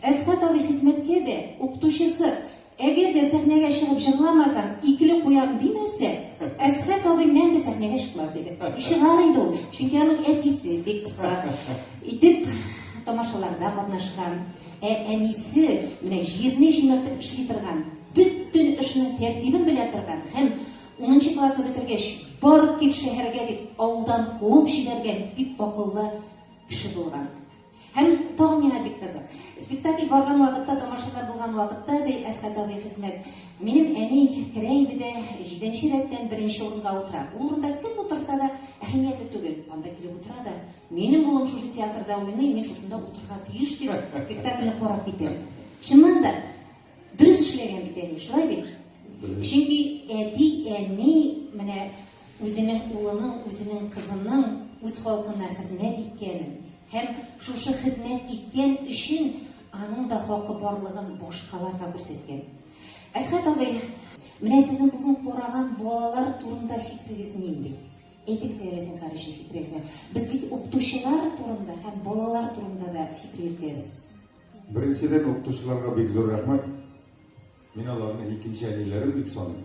Әсхат абый хезмәткә дә, укытучысы, Әгәр дә сәхнәгә чыгып җырламасаң, икле куям, димәсә, Әсхат абый мәңге сәхнәгә чыкмас иде. Чыгар иде ул, чөнки аның әтисе бик оста итеп тамашаларда катнашкан. Ә әнисе менә җирне җимертеп эшли торган, бөтен эшнең тәртибен белә торган һәм унынчы классны бетергәч, бар кит шәһәргә дип, авылдан куып җибәргән бик акыллы кеше булган. Һәм тагын миңа бик кызык. Спектакль барган вакытта, тамашада булган вакытта, ди Әсхәт абый Хисмәт, минем әни керә иде дә, җиденче рәттән беренче урынга утыра. Ул урында кем утырса да, әһәмиятле түгел. Анда килеп утыра да, Минем улым шушы театрда уйный, мин шушында утырырга тиеш, дип, спектакльне карап китә. Чыннан да. Дөрес эшләгән бит әни, шулай бит? Чөнки әти, әни менә үзенең улының, үзенең кызының үз халкына хезмәт иткәнен һәм шушы хезмәт иткән өчен аның да хакы барлыгын башкалар да күрсәткән. Әсхәт абый, менә сезнең бүген караган балалар турында фикерегез нинди? Әйтегез әле син хәрәшә фикерегезне. Без бит укытучылар турында һәм балалар турында да фикер йөртәбез. Беренчедән, укытучыларга бик зур рәхмәт. Мин аларны икенче әниләрем дип саныйм.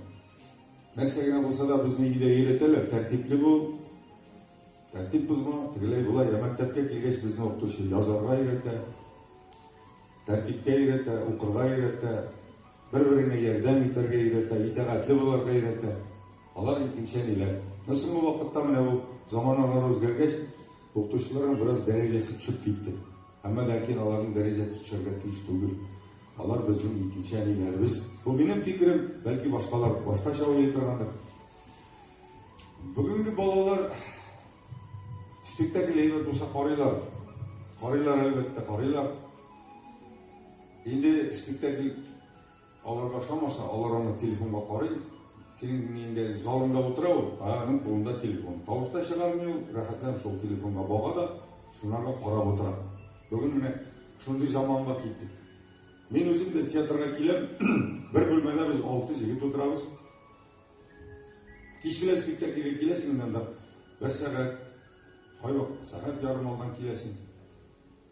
Нәрсә генә булса да безне өйдә өйрәтәләр, тәртипле бул, тәртип бозма, тегеләй болай. Ә мәктәпкә килгәч безне укытучы язарга өйрәтә, тәртипкә өйрәтә, укырга өйрәтә, бер-береңә ярдәм итәргә өйрәтә, итәгатьле буларга өйрәтә. Алар икенче әниләр. Ә соңгы вакытта менә бу заманалар үзгәргәч, Укытучыларның бераз дәрәҗәсе төшеп китте. Әмма ләкин аларның дәрәҗәсе төшәргә тиеш түгел. Алар безнең икенче әниләребез. Бу минем фикерем, бәлки башкалар башкача уйлый торгандыр. Бүгенге балалар спектакль әйбәт булса карыйлар. Карыйлар әлбәттә, карыйлар. Инде спектакль Аларга ошамаса, алар аны телефонга карый, синең нинди залыңда утыра ул, ә аның кулында телефон. Тавыш та чыгармый ул, рәхәтләнеп шул телефонга бага да, шунарга карап утыра. Бүген менә шундый заманга киттек. Мин үзем дә театрга киләм, бер бүлмәдә без алты җегет утырабыз. Кич белән спектакльгә киләсең, монда бер сәгать, кайвакыт сәгать ярым алдан киләсең.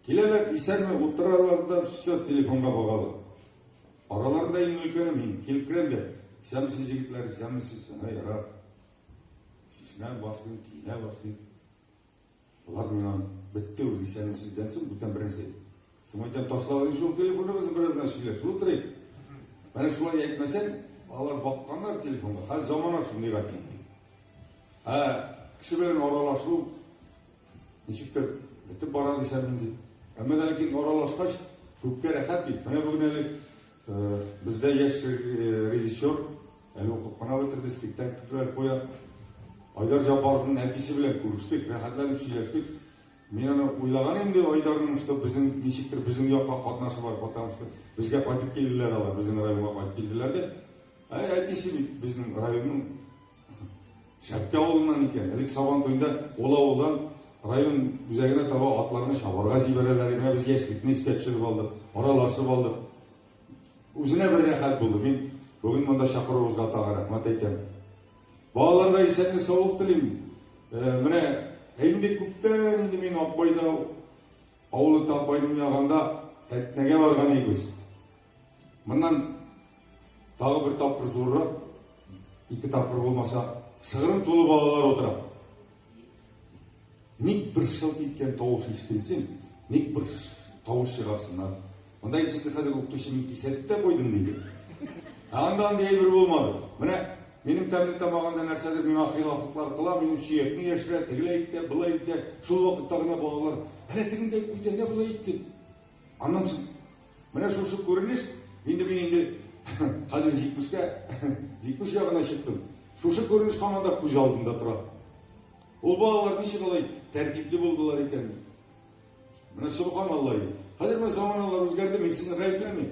Киләләр, исәнме, утыралар да все телефонга багалар. Араларында иң өлкәне мин, килеп керәм дә, исәнмесез, егетләр, исәнмесез, ана ярар. Чишмә башлыйм, киенә башлыйм. Болар миңа бетте уже, исәнмесездән соң бүтән бернәрсә. Соң әйтәм, ташлагыз шул телефоныгызны бераздан сөйләшеп утырыйк. Менә шулай әйтмәсәң, алар бакканнар телефонга. Хәзер замана шундыйга китте. Ә кеше белән аралашу Ничектер бетеп бара дисәм инде. Әмма да ләкин аралашкач, күпкә рәхәт бит. Менә бүген әле э, бездә яшь э, режиссер әле укып кына бетерде, спектакльләр куя. Айдар Җаббаровның әтисе белән күрештек, рәхәтләнеп сөйләштек. Мин аны уйлаган инде Айдарның что безнең ничектер безнең якка катнашы бар, потому что безгә кайтып килделәр алар, безнең районга кайтып килделәр дә. Ә әтисе бит безнең районның Шәпкә авылыннан икән. Элек Сабан туенда ул авылдан район үзәгенә таба атларны чабарга җибәрәләр иде. Менә без яшьлекне искә төшереп алдык, аралашып алдык. Үзенә бер рәхәт булды. Мин бүген монда чакыруыгызга тагын рәхмәт әйтәм. Балаларга исәнлек, саулык телим. Менә инде күптән инде мин Акбайда, авылы Такбайның ягында Әтнәгә барган идек без. Моннан тагы бер тапкыр зуррак, ике тапкыр булмаса, шыгрым тулы балалар утыра. Ник бер шылт иткән тавыш ишетелсен, ник бер тавыш чыгарсыннар. Монда инде сезне хәзер укытучы мин кисәтеп тә куйдым диде. Ә анда андый әйбер булмады. Менә минем тәмле тамагында нәрсәдер миңа хилафлыклар кыла, минем сөякне яшерә, тегеләй итә, былай итә. Шул вакытта гына балалар, әнә тегендәй куйды, әнә былай итте. Аннан соң менә шушы күренеш, инде мин инде хәзер 70-кә 70 ягына чыктым. Шушы күренеш һаман да күз алдында тора. Ул балалар ничек алай тәртипле булдылар икән? Менә субханаллаһ. Хәзер менә заманалар үзгәрде, мин сезне гаепләмим.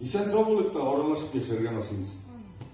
Исән сау булыйк та аралашып яшәргә насыйп